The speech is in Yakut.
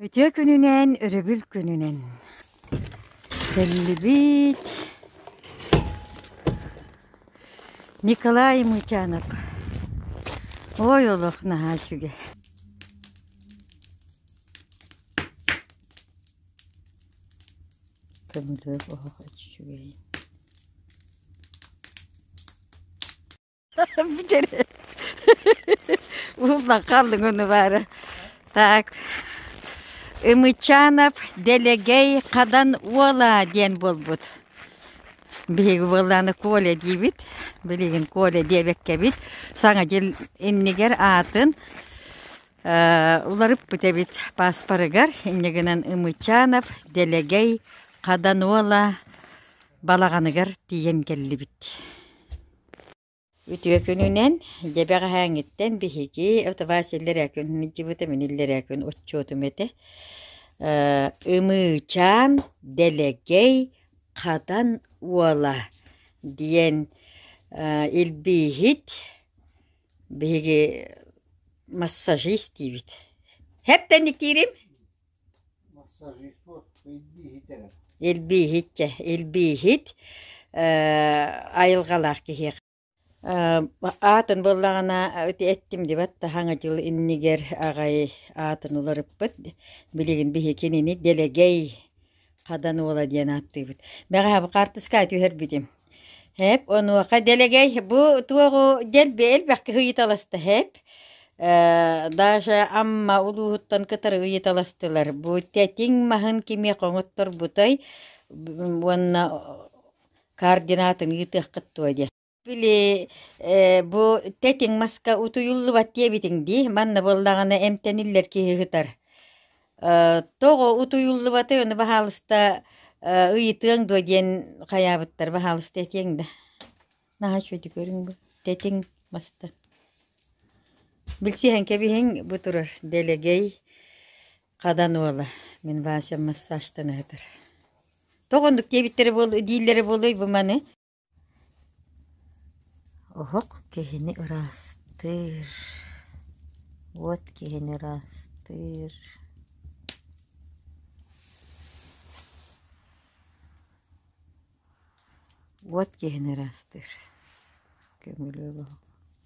Үтүө күнүнэн, өрөбүл күнүнэн. Биллибит Николай Мычанов. Ой олох наһаа үчүгэй. Көмүлүөк оһох үчүгэй. Уллахалыгыны бары. Так. Ымычанов Делегей Хадан Уола диэн буолбут. Биһиги буоллааны Коля диибит. Билигин Коля диэбэккэбит. Саҥа дьыл иннигэр аатын уларыппыт эбит пааспарыгар. Иннигинэн Ымычанов Делегей Хадануола балаҕаныгар тиийэн кэллибит. Үтүө күнүнэн, дьэ бэҕэһээҥҥиттэн биһиги Втова силлэрээ күн сылдьыбытым, иниллэрээ күн отчуотум этэ. Э, Ымыычаан, Дэлэгэй, Хатан уола диэн э, илбииһит биһиги массажист диибит. Хэптэн диктиирим? Илбииһит дьэ, илбииһит айылҕалаах киһи аатын буллаҕына эттим дибат да Хаҥа дьыл иннигэр аҕай аатын уларыппыт билигин биһи кинини дэлэгэй Хадан уола диэн ааттыыбыт. Бэҕэһээ бу хаартыскаҕа түһэрбитим. Һээп, онуоха дэлэгэй, бу туоҕу диэн элбэххэ ыйыталаста һээп. Э, даже Амма улууһуттан кытары ыйыталастылар. Бу тэтиҥ маһын кимиэ хоҥотторбутай уонна координатын ыытыаххыт дуо диэн. Били, э, бу тэтиҥ маска утуйуллубат диэбитиҥ дии, манна буоллаҕына эмтэниллэр киһи ыһытар. Э, тоҕо утуйуллубатый, ону баһаалыста э, ыйытыаҥ дуо диэн хайаабыттар, баһаалыста этиэҥ да. Наһаа үчүгэй көрүҥ бу, тэтиҥ маста. Билсиһэн кэбиһиҥ бу турар дэлэгэй хадан уола. Мин Вася массажтан ыһытар. Тоҕо оннук диэбиттэрэ буол дииллэрэ буолуй бу маны? Оһох киһини ыраастыыр. Уот киһини ыраастыыр. Уот киһини ыраастыыр. Көмүлүөк оһох.